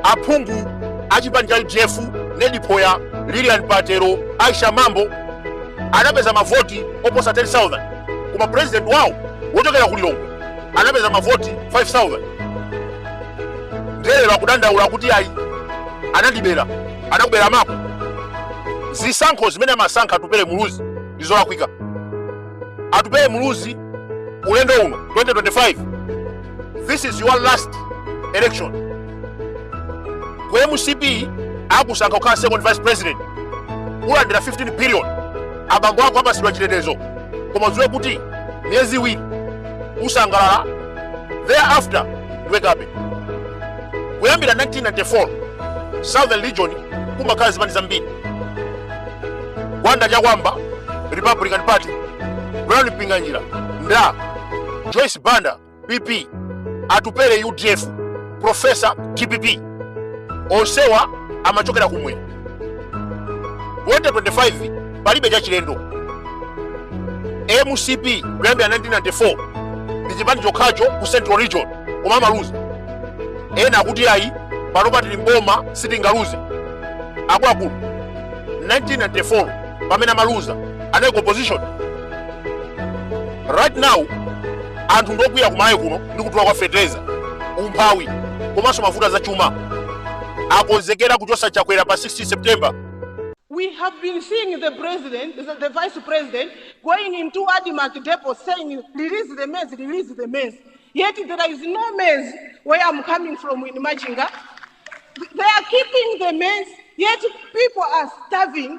Aphungu a chipani cha udf Ned Phoya, Lilian Patel, Aisha Mambo anapeza mavoti oposa 10,000 koma president wawo wochokera ku Lilongwe anapeza mavoti 5,000 nde lero akudandaula kuti ayi anandibera anakubera mako zisankho zimene amasankha atupele muluzi ndi zolakwika atupele muluzi ulendo uno 2025 this is your last election ku mcp akusankha kukhala second vice president ulandira 15 billion abambo ako apasidwa chitetezo koma udziwe kuti miyezi iwiri usangalala thereafter ndiwe kape kuyambira 1994 southern region kumakhala zipani zambiri gwanda chakuamba republican party brown mpinganjira nda Joyce Banda PP, Atupele UDF, Profesa DPP, onsewa amachokera kumwera. 2025 palibe chachilendo. MCP kuyambira 1994 ndi chipani chokhacho ku Central Region koma amaluza. Ena akuti ayi pano patili mboma sitingaluze. Akuluakulu 1994 pamene amaluza anali ku opposition right now anthu ndokwiya ku Malawi kuno ndi kudula kwa fetereza umphawi komanso mavuto a zachuma akonzekera kuchosa chakwera pa 16 september We have been seeing the president, the, the vice president, going into Admarc depot saying, release the maize, release the maize. Yet there is no maize where I'm coming from in Machinga. They are keeping the maize, yet people are starving.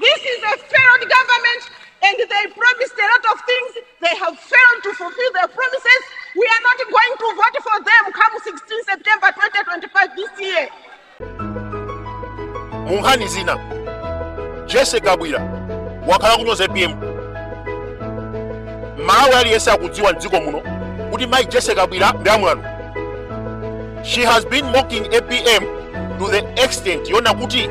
This is a failed government and they promised a lot of things. They have failed to fulfill their promises. We are not going to vote for them come 16 September 2025 this year. munkhani zina jessie kabwila wakhala akunyoza apm mmalawi aliyense akudziwa mdziko muno kuti mayi jessie kabwila ndi amwano she has been mocking apm to the extent yonena kuti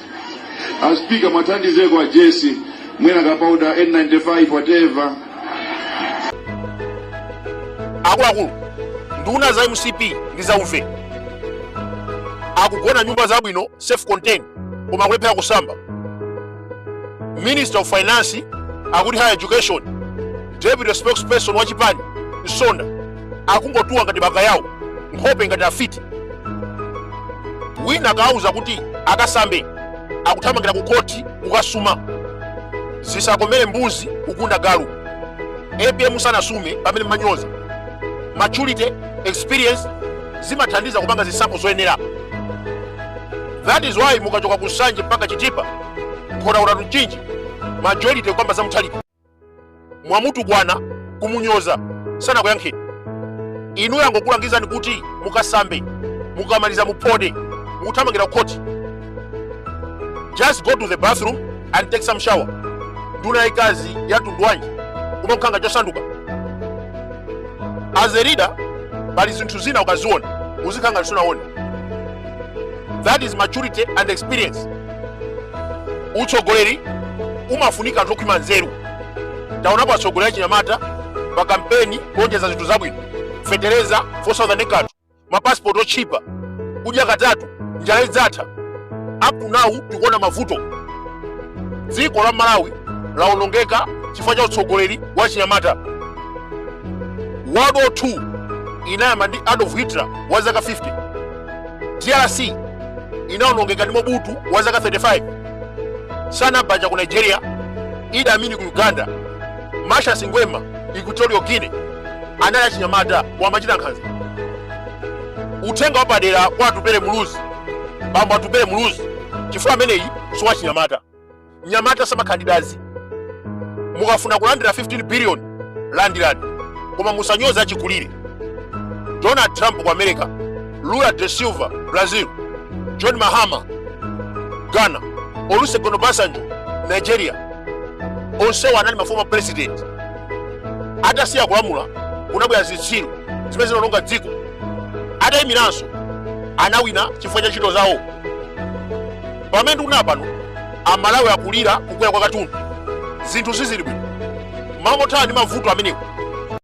a speaker muwathandizeko a jessie mwina kapauda n95 whatever akuluakulu nduna za mcp ndi za uve akugona nyumba zabwino self contained koma akulephera kusamba minister of finance akuti higher education deputy spokesperson wa chipani msonda akungotuwa ngati bakayawo nkhope ngati afiti wina akawauza kuti akasambe akuthamangira ku khoti kukasuma zisakomere mbuzi kugunda galu apm sanasume pamene mumanyoza maturity experience zimathandiza kupanga zisankho zoyenera that is why mukachoka ku nsanje mpaka chitipa nkhotakota tuchinji majority kukamba za mutharika mwamutukwana kumunyoza sanakuyankheni inu yangokulangizani kuti mukasambe mukamaliza muphode mukuthamangira ku khoti just go to the bathroom and take some shower nduna yayikazi ya mtundu wanji kumangokhala ngati chosanduka as a leader pali zinthu zina ukaziona uzikhala ngati sunaone that is maturity and experience utsogoleri umafunika anthu okhwima nzeru taonapo atsogoleri achinyamata pa kampeni kulonjeza zinthu zabwino fetereza 4000 kanthu mapasipoti otchipa kudya katatu njala idzatha up to now tikuona mavuto dziko la malawi laonongeka chifukwa cha utsogoleri wa chinyamata world war 2 inayamba ndi adolf hitler wa zaka 50 drc inaonongeka ndi mobutu wa zaka 35 sani abacha ku nigeria idi amin ku uganda macias nguema equatorial guinea anali achinyamata wamachita nkhanza uthenga wapadera kwa atupele muluzi bambo atupele muluzi chifukwa ameneyi siwachinyamata mnyamata samakhala ndi dazi mukafuna kulandira 15 billion landirani koma musanyoza achikulire donald trump ku america lula da silva brazil john mahama ghana olusegun obasanjo nigeria onsewa anali ma former president atasiya kulamula kunabwera zitsiru zimene zinaononga dziko atayimiranso anawina chifukwa cha ntchito zawo pamene tikunena pano amalawi akulira kukwera kwa katundu zinthu sizili bwino mmalo mothana ndi mavuto amenewo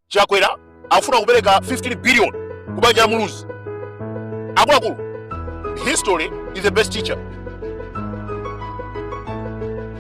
chakwera akufuna kupereka 15 billion ku banja la muluzi akuluakulu history is the best teacher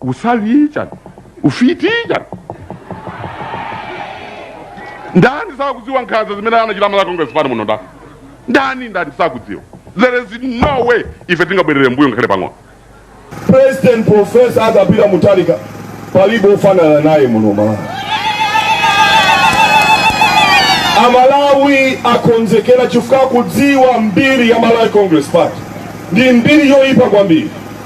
usawi chani ufiti chani ndani sakudziwa nkhanza zimene anachita malawi congress party muno ndani ndani ndani sakudziwa there is no way ife tingabwerere mbuyo ngakhale pang'ono president professor arthur peter mutharika palibe ofanana naye muno malawi amalawi akonzekera chifukwa akudziwa mbiri ya malawi congress party ndi mbiri yoyipa kwambiri